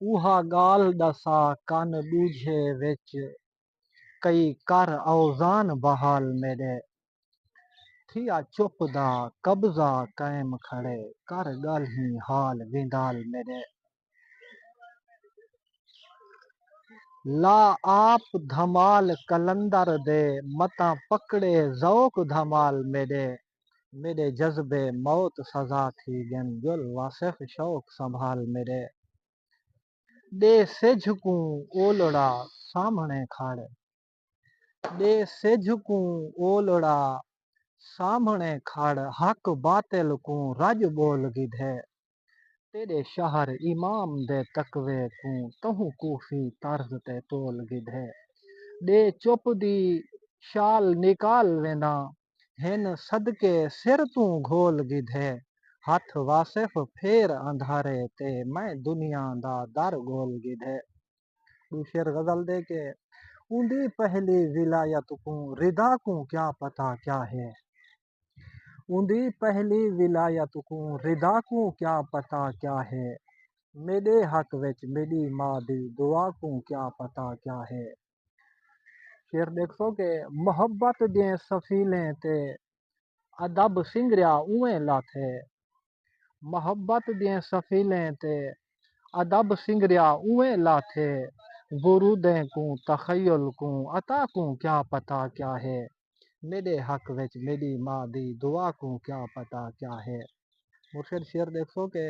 اوہا ڳالھ ݙسا کن ݙوجھے وچ کئی کر اوزان بحال میݙے تھیا چپ دا قبضہ قائم کھڑے کر ڳالھیں حال ویندال میݙے لا آپ دھمال قلندر دے متاں پکڑے ذوق دھمال میݙے میݙے جذبے موت سزا تھی ڳن گل واصف شوق سنبھال میݙے ݙے سجھ کوں اولڑا سامھݨے کھڑ ݙے سجھ کوں اولڑا سامھݨے کھڑ حق باطل کوں رڄ ٻول گھدے تیݙے شہر امام دے تقوی کوں تہوں کوفی طرز تے تول گھدے ݙے چپ دی شال نکال وینداں ہن صدقے سر توں گھول گھدے ہتھ واصف پھیر اندھارے تے میں دنیا دا در گھول گھدے ݙو شعر غزل دے کہ اوندی پہلی ولایت کوں ردا کوں کیا پتہ کیا ہے۔ اوندی پہلی ولایت کوں ردا کوں کیا پتہ کیا ہے میݙے حق وچ میݙی ماء دی دعا کوں کیا پتہ کیا ہے۔ شعر ݙیکھسو کہ محبت دیاں سفیلیں تے ادب سنگریا اونویں لاتھ ہے محبت دیاں سفیلیں تے ادب سنگریا اونویں لاتھ ہے گرو دیں کوں تخیل کوں عطا کوں کیا پتہ کیا ہے۔ میݙے حق وچ میݙی ماء دی دعا کوں کیا پتہ کیا ہے۔ مرشد شعر ݙیکھسو کہ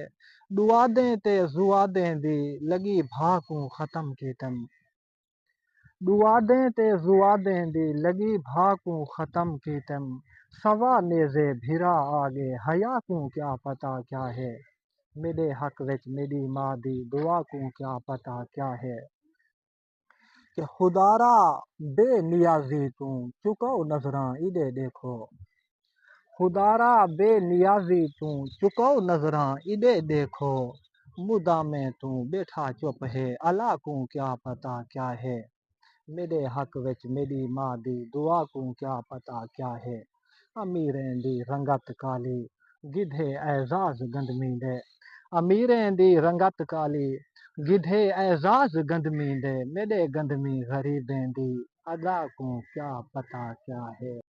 ݙوادیں تے ذوادیں دی لڳی بھا کوں ختم کیتم۔ ݙوادیں تے ذوادیں دی لڳی بھا کوں ختم کیتم سوا نیزے بھرا آ ڳے حیا کوں کیا پتہ کیا ہے۔ میݙے حق وچ میݙی ماء دی دعا کوں کیا پتہ کیا ہے۔ کہ خدارا بے نیازی توں چکو نظراں ایڈے ڈیکھو خدارا بے نیازی توں چکو نظراں ایڈے ڈیکھو مدامیں توں بیٹھا چپ ہے الا کوں کیا پتہ کیا ہے میڈے حق وچ میڈی ماں دی دعا کوں کیا پتہ کیا ہے۔ امیریں دی رنگت کالی، گدھے اعزاز گندمیندے۔ امیریں دی رنگت کالی، گدھے اعزاز گندمیندے۔ میݙے گندمی غریبیں دی ادا کوں کیا پتہ کیا ہے۔